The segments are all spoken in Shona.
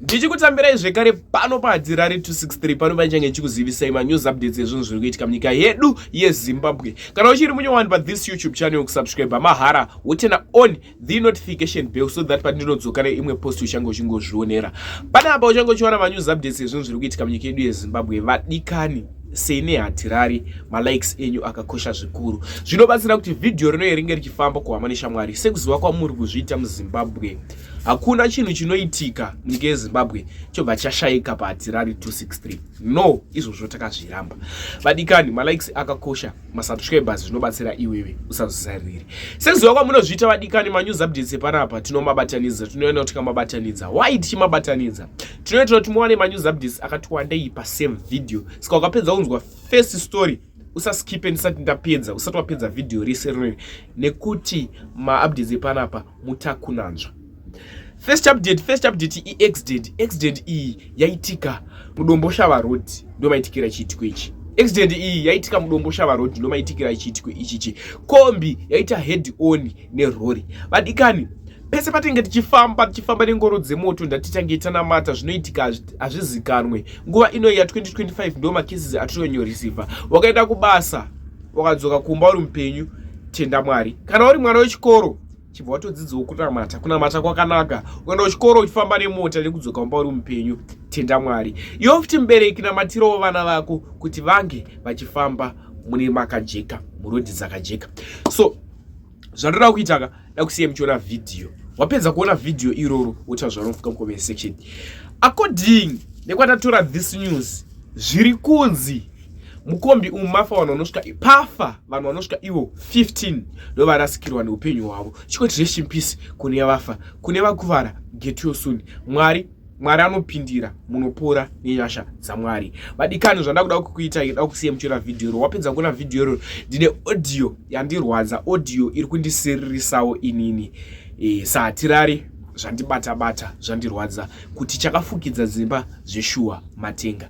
ndichikutambirai zvekare pano pahadzirari 263 pano panichange ndichikuzivisai manews updates ezvinhu zviri kuitika munyika yedu yezimbabwe kana uchiri munyowani pathis youtube channel kusubscribe mahara wotena on the notification bell so that pandinodzoka neimwe post uchange uchingozvionera pane apa uchange uchiwana manews updates ezvinhu zviri kuitika munyika yedu yezimbabwe vadikani sei nehatirari malikes enyu akakosha zvikuru zvinobatsira kuti vhidhiyo rino ringe richifamba kuhama neshamwari sekuziva kwamuri kuzviita muzimbabwe hakuna chinhu chinoitika nyika yezimbabwe chobva chashaika pahatirari 263 no izvozvo takazviramba vadikani malikes akakosha masubscribers zvinobatsira iwewe usazvisarire seziva kwamunozviita vadikani manews updates epanapa tinomabatanidza tinoona kuti kamabatanidza why tichimabatanidza tinoitira kuti muwane manews updates akati wandei pasame video saka ukapedza kunzwa first story usaskipe ndisati ndapedza usati wapedza vhidhiyo rese rinoiri nekuti maupdates epanapa mutakunanzva first update first update iaccident accident iyi yaitika mudomboshava road ndomaitikira chiitiko ichi accident iyi yaitika mudomboshava road ndomaitikira chiitiko ichichi kombi yaita head on nerori vadikani pese patinenge tichifamba tichifamba nengoro dzemoto ndatitange tanamata zvinoitika hazvizikanwe nguva ino ya 2025 ndo makeses atinonyorisiva wakaenda kubasa wakadzoka kumba uri mupenyu tenda mwari kana uri mwana wechikoro chibva watodzidzawo kunamata kunamata kwakanaka ukaenda kuchikoro uchifamba nemota nekudzoka kumba uri mupenyu tenda mwari iwo futi mubereki namatirawo vana vako kuti vange vachifamba mune makajeka murodhi dzakajeka so zvandoda kuita ka da kusiya muchiona vhidhiyo wapedza kuona vhidhiyo iroro wotaura zvaunofika mucomment section according nekwatatora this news zviri kunzi mukombi umu mafa vanhu vanosvika pafa vanhu vanosvika ivo 15 ndovarasikirwa neupenyu hwavo chikoti reshimpeace kune vafa kune vakuvara getuyo suni mwari mwari anopindira munopora nenyasha dzamwari vadikani zvandakuda kukuita ida kusiya muchiona vhidhiyo ro wapedza kuona vhidhiyo ro ndine audio yandirwadza audio iri kundisiririsawo inini e, saatirari zvandibata bata zvandirwadza kuti chakafukidza dzimba zveshuwa matenga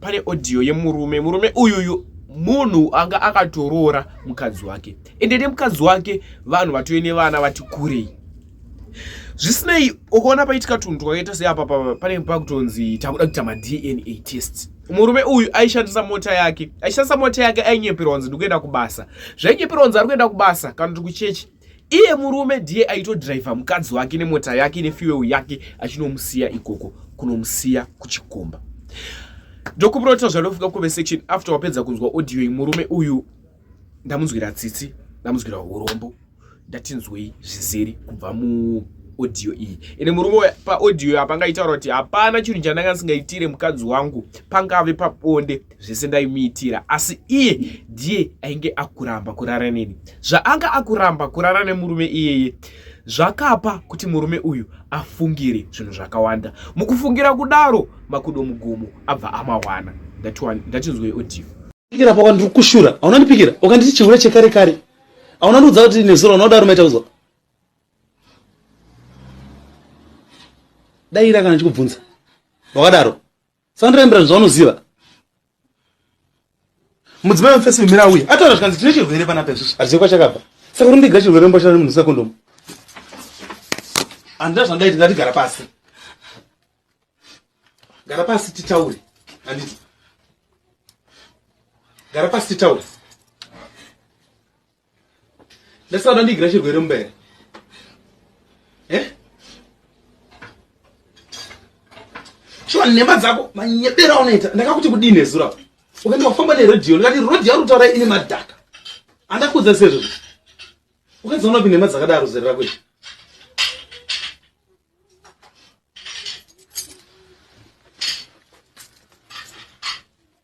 pane audio yemurume murume uyuyu munhu anga akatoroora mukadzi wake ende nemukadzi wake vanhu vatoe nevana vati kurei zvisinei ukaona paitika tunhu twakaita seapa panenge pakutonzi takuda kuita madna test murume uyu aishandisa mota yake aishandisa mota yake ainyeperwa nzi ndikuenda kubasa zvainyeperwa nzi ari kuenda kubasa kana kuti kuchechi iye murume ndiye aitodhiraivha mukadzi wake nemota yake nefiweu yake achinomusiya ikoko kunomusiya kuchikomba ndokuprota zvanofunga kuve section after wapedza kunzwa audio iyi murume uyu ndamunzwira tsitsi ndamunzwira urombo ndatinzwei zvizere kubva mu audio iyi ende murume paaudio apangaitaura kuti hapana chinhu chandanga ndisingaitire mukadzi wangu pangave pabonde zvese ndaimuitira asi iye ndiye ainge akuramba kurara neni zvaanga akuramba kurara nemurume iyeye zvakapa kuti murume uyu afungire zvinhu zvakawanda mukufungira kudaro makudo mugomo abva amawana ndatinzwei odiv pikira pakwa ndiri kushura hauna ndipikira ukanditi chihure chekare kare hauna ndiudza kuti nezuro unoda rumaita kuzwa daira kana ndichikubvunza wakadaro sandirembera zvaunoziva mudzimai wefesi mumira auya ataura zvikanzi tine chirwere pana pezvizvi hatizivi kwachakabva saka uri ndiga chirwere mboshara nemunhu usina kondomu handina zvandaiti ndati gara pasi gara pasi titaure handiti gara pasi titaure ndasada ndigira chirwere mumbere eh? shuwa nhema dzako manyebera unoita ndakakuti kudii nezura ukaenda kufamba neredhiyo ndikati rodhi yari kutaura ine madhaka andakudza sezvo ukazoona kuti nhema dzakadaro zere rako izvi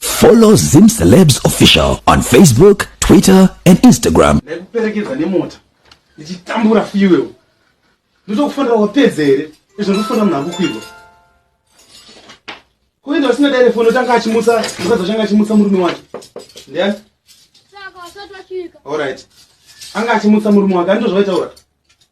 Follow Zim Celebs Official on Facebook, Twitter, and Instagram. Ndaikuperekedza nemota ndichitambura fuel. Ndotokufanira wapedza here? Izvo ndofanira munhu akukwirwa. Kuenda usina dare phone otanga achimutsa, mukadzi achanga achimutsa murume wake. Ndiyani? Saka wasati wasvika. All right. Anga achimutsa murume wake, andozvaitaura.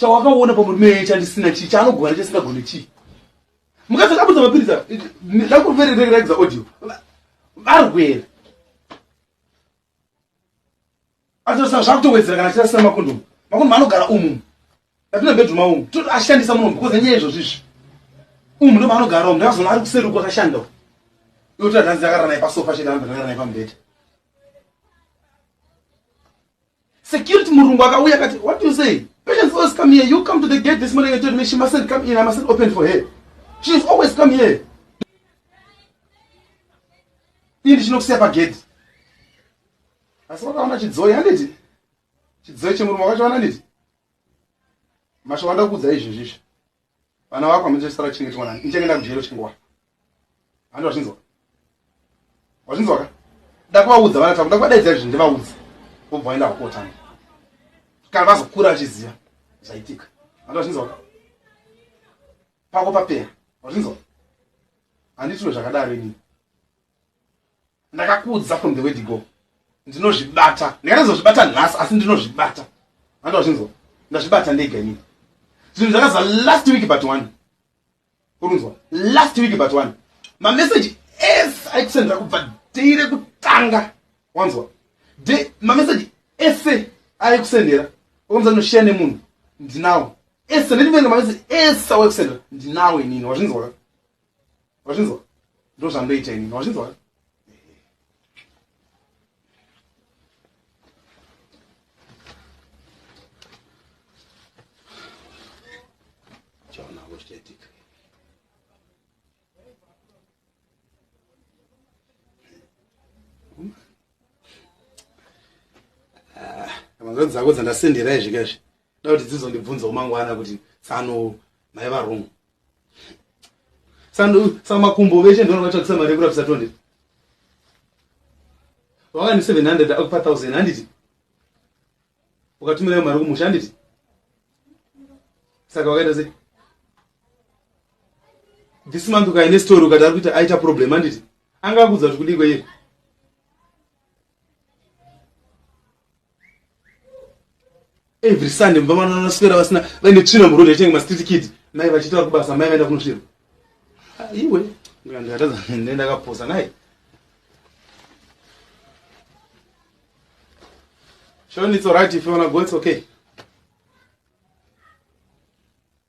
chawakaona pamurume yeye chandisina chii chaanogona chasingagone chii mukadzi akabudza mapiritsi ndakuverereregza audio varwere atosa zvakutowedzera kana chitasina makondomu makondomu anogara umu ndapinda bedroom aumu toti ashandisa muno because enyaya izvozvi izvi umu ndo maanogara umu ndakazoona ari kuseri uko akashanda uko iwoti adanzi akarara naye pasofa chete anzi akarara naye pamubhedha Security murungu akauya akati what do you say? Patience always come here. You come to the gate this morning and told me she mustn't come in. I mustn't open for her. She has always come here. Ini ndinokusiya pagedhi. Asi wakaona chidzoyi handiti? Chidzoyi chemurume wakachiwana handiti? Mashoko andakuudza izvozvizvo. Vana vako hamuchasara chengetwa nani. Ndichenge ndakujero chengowa. Handi wazvinzwa. Wazvinzwa ka? Ndakuvaudza vana takuda kudaidza izvi ndivaudze. Vobva vaenda vakotanga. Kana vazokura vachiziva zvaitika. Handi wazvinzwa ka? Pako papera. Wazvinzwa? Handitwe zvakadaro inini. ndakakuudza from the word go ndinozvibata ndikatazozvibata nhasi asi ndinozvibata handi wazvinzwa ndazvibata ndega inini zvinhu zvakaza last week but one urunzwa last week but one mameseji ese aikusendera kubva dei rekutanga wanzwa de mameseji ese aikusendera okamza ndoshiya nemunhu ndinawo ese netivenga mameseji ese awaikusendera ndinawo inini wazvinzwaka wazvinzwa ndozvandoita inini wazvinzwa ka hanzvadzi dzako dzandasendera izvi kazvi da kuti dzizondibvunzawo mangwana kuti tsano maiva wrong samakumbo veshe ndona vatsvagisa mari yekurapisa tonde wakani 700 akupa 1000 handiti ukatumirayo mari kumusha handiti saka wakaita sei this month ukaine story ukati ari kuita aita problem handiti anga akudza kuti kudii kweyei every sunday mva vana vanaswera vasina vaine tsvina muroad yachenge mastreet kids mai vachitaura kubasa mai vaenda kunosvirwa ah, iwe ndikatadza ne ndakaposa naye shoni it's alright if you wanna go it's okay